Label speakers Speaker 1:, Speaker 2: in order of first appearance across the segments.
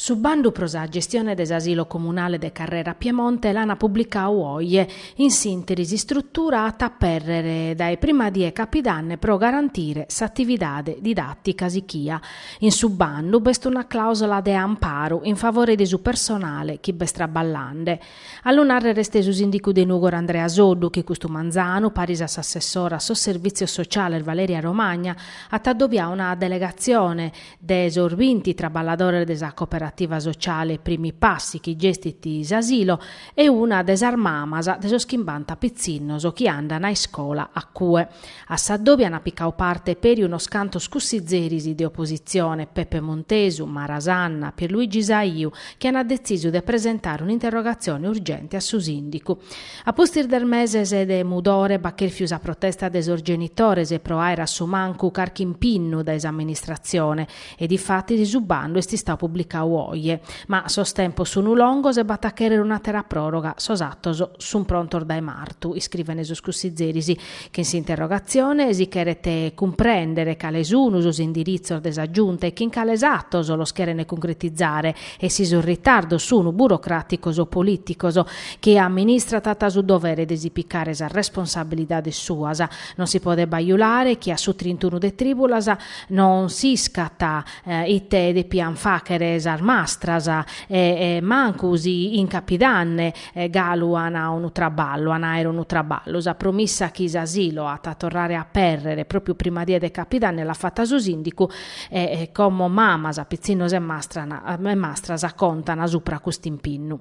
Speaker 1: Su bandu pro sa gestione de s'Asilo Comunale de Carrera Piemonte l'ana publicau oje in s'interi s'istrutura at a apèrrere dae prima die capidanne pro garantire s'atividade didàtica sichia in su bandu b'est una clausola de amparu in favore de su personale chi b'est traballande A lu nàrrere est su sìndicu de Nùgoro Andrea Soddu chi custu manzanu, paris a s'assessora a sos Servìtzios Sociales Valeria Romagna, at adobiau una delegatzione de sos binti traballadores de sa cooperativa sociale Primi Passi chi gestit s'asilo e una de sas mamas de sos chimbanta pitzinnos chi andant a iscola a cue. A s'adòbiu ant picau parte peri unos cantos cussizeris de opositzione, Peppe Montesu, Mara Sanna, Pierluigi Saiu, chi ant detzisu de presentare un'interrogatzione urgente a su sìndicu. A pustis de meses de mudore b'at chèrfiu sa protesta de sos genitores pro àere a su mancu carchi impinnu dae s'amministratzione e difatis su bandu est istau publicau oje. Ma sos tempos sunu longos e b'at a chèrrere un'àtera pròroga, sos atos sunt prontos dae martu, iscrivent sos cussizeris, Chin s'interrogatzione si cheret cumprèndere cale sun sos indiritzos de sa Giunta e chin cales atos los cheren cuncretizare e si sos ritardos sun burocràticos o polìticos. Chie amministrat at su dovere de si picare sas responsabilidades suas. Non si podet bajulare chi a su trintunu de trìbulas non s'iscat ite depiant fàchere sas mastras e mancu si in capidanne galu an unu traballu, an a àere unu traballu. Sa promissa chi s'asilo at a torrare a apèrrere pròpiu prima die de Capidanne l'at fata su sìndicu e, como mamas, pitzinnos e mastran e mastras contan supra cust'impinnu.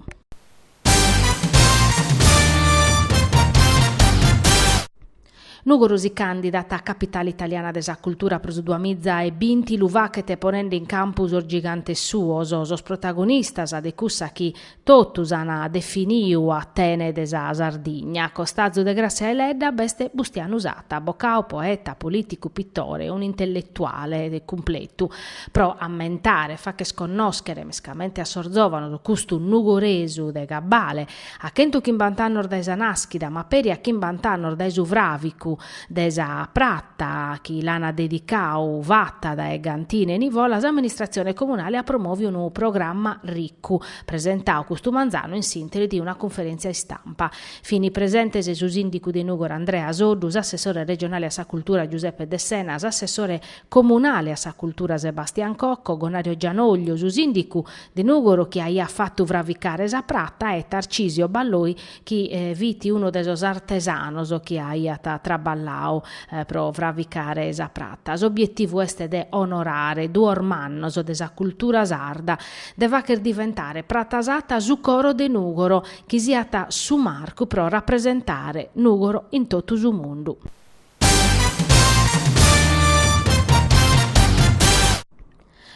Speaker 1: Nùgoro si càndidat a Capitale italiana de sa cultura pro su duamiza e binti, lu fachet ponende in campu sos gigantes suos, sos protagonistas de cussa chi totus an definiu Atene de sa Sardigna. A costazu de Grassia Eledda b'est Bustianu Satta, abocau, poeta, polìticu, pitore, unu intelletuale cumpletu. Pro ammentare e facher connòschere mescamente a sos zòvanos custu nugoresu de gabbale, A chentu chimbant'annos dae sa nàschida, ma peri a chimbant'annos dae su fràvicu de sa prata chi l'ana dedicau fata dae Gantine Nivola, s'amministratzione comunale at promòviu unu programma ricu, presentau custu manzanu in s'interi de una cunferèntzia istampa. Fini presentes su sìndicu de Nùgoro Andrea Soddu, s'assessore regionale a sa cultura Giuseppe Dessena, s'assessore comunale a sa cultura Sebastian Cocco, Gonario Gianoglio, su sìndicu De Nùgoro chi aiat fatu fraficare sa prata e Tarcisio Balloi chi fit unu de sos artesanos chi aiat traballadu pro fraficare sa prata. S'obietivu est de onorare duos mannos de sa cultura sarda, de fagher diventare Prata Satta su coro de Nùgoro, chi siat su marcu pro rapresentare Nùgoro in totu su mundu.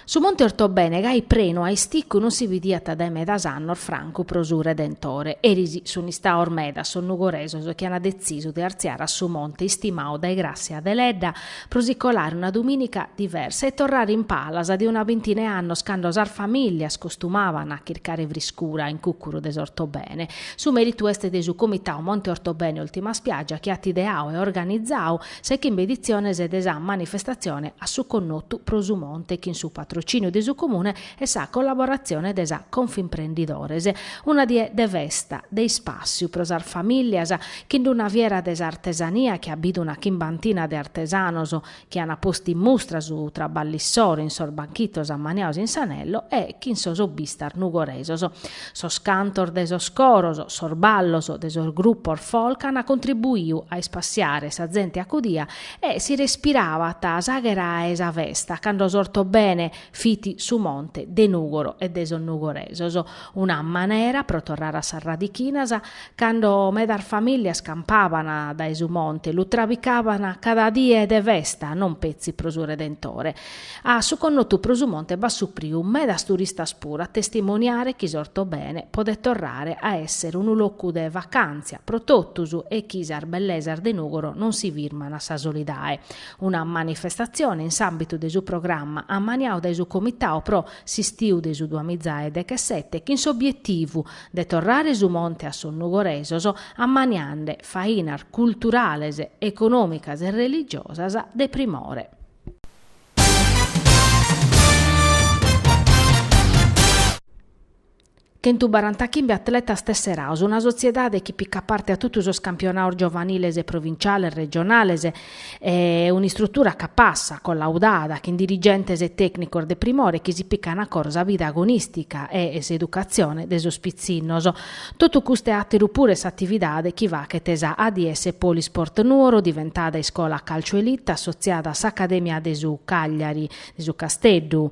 Speaker 1: Su monte Ortobene gai prenu a isticcu non si bidiat dae medas annos francu pro su Redentore, eris sun istaos medas sos nugoresos chi an detzisu de artziare a su monte istimadu dae Gràssia Deledda pro si colare una dumìnica diversa e torrare in palas de una bintina 'e annos cando sas famìlias costumaban a chircare friscura in cùcuru de s'Ortobene. Su mèritu est de su Comitadu Monte Ortobene Ultima Spiaggia chi at ideadu e organizadu Sa 'e chimbe editziones de sa manifestatzione A su connotu pro su monte chin su patrocìniu de su Comune e sa collaboratzione de sa Confimprenditores. Una die de festa, de ispàssiu pro sas famìlias, chin d'una fiera de s'artesania chi at bidu una chimbantina de artesanos chi an postu in mustra su traballu issoro in sos banchitos ammaniados in s'anello e chin sos hobbistas nugoresos. Sos cantos de sos coros, sos ballos de sos grupos folk ant contribuiu a ispassiare sa zente acudia e si respirabat s'aghera 'e sa festa cando s'Ortobene fit su monte de Nùgoro e de sos nugoresos. Una manera pro torrare a sas radichinas cando medas famìlias campaban dae su monte lu trabicaban cada die de festa non petzi pro su Redentore A su connotu pro su monte b'at supriu medas turistas puru a testimoniare chi s'Ortobene podet torrare a èssere unu locu de vacàntzia pro totus e chi sas bellesas de Nùgoro non si firman a sa solidae. Una manifestatzione in s'àmbitu de su programma ammaniadu dae su Comitau pro s'istiu de su duamiza e dechesete chin s'obietivu de torrare su monte a sos nugoresos ammaniende fainas culturales, econòmicas e religiosas de primore. Chentu barantachimbe atletas tesserados, una sotziedade chi picat parte a totu sos campionados giovaniles e provintziales, regionales, e un'istrutura capassa, collaudada, chin dirigentes e tècnicos de primore chi si pican a coro sa vida agonìstica e s'educatzione de sos pitzinnos. Totu custu e àteru puru est s'atividade chi faghet sa ADS Polisport Nuoro diventada iscola calcio elite assotziada a s'Acadèmia de su Cagliari, de su Casteddu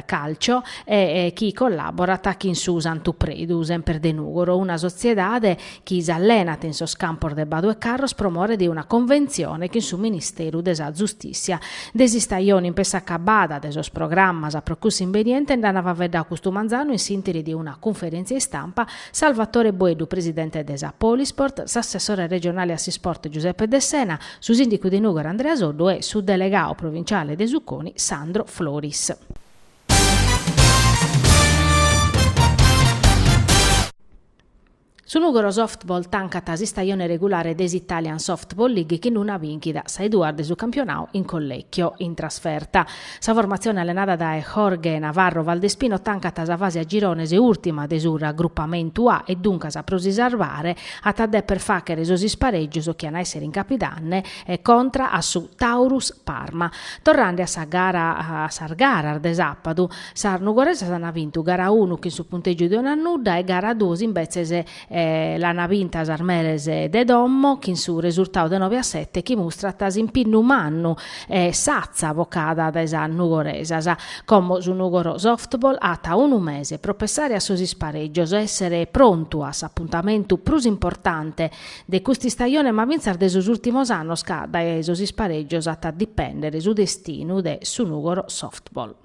Speaker 1: Calcio e chi collàborat chin su Santu Predu, semper de Nùgoro, una sotziedade chi s'allenat in sos campos de Badu e Carros pro more de una conventzione chin su Ministeru de sa Zustìssia De s'istajone in pessu acabada de sos programmas pro cussa imbeniente nd'an faveddau custu manzanu in s'interi de una cunferèntzia istampa Salvatore Boeddu presidente de sa Polisport, s'assessore regionale a s'isport Giuseppe Dessena, su sìndicu de Nùgoro Andrea Soddu e su delegadu provinciale de su CONI Sandro Floris. Su Nùgoro Softball tancat s'istajone regulare de s'Italian Softball League chin una bìnchida sa 'e duas de su campionau in Collecchio in trasferta. Sa formatzione allenada dae Jorge Navarro Valdespino tancat sa fase a girones ùrtima de su Raggrupamentu A e duncas pro si sarvare at a deper fàghere sos isparègios chi an a èssere in Capidanne e contra a su Taurus Parma. Torrende a sa gara a sas garas de sàpadu, Sas nugoresas an vintu gara unu chin su puntègiu de unu a nudda e gara duos imbetzes l'an vinta sas meres de domo chin su resurtau de nobe a sete chi mustrat s'impinnu mannu e s'atza vocada dae sas nugoresas. Como su Nùgoro Softball at unu mese pro pessare a sos isparègios e èssere prontu a s'apuntamentu prus importante de cust'istajone ma fintzas de sos ùrtimos annos ca dae sos isparègios at a dipèndere su destinu de su Nùgoro Softball.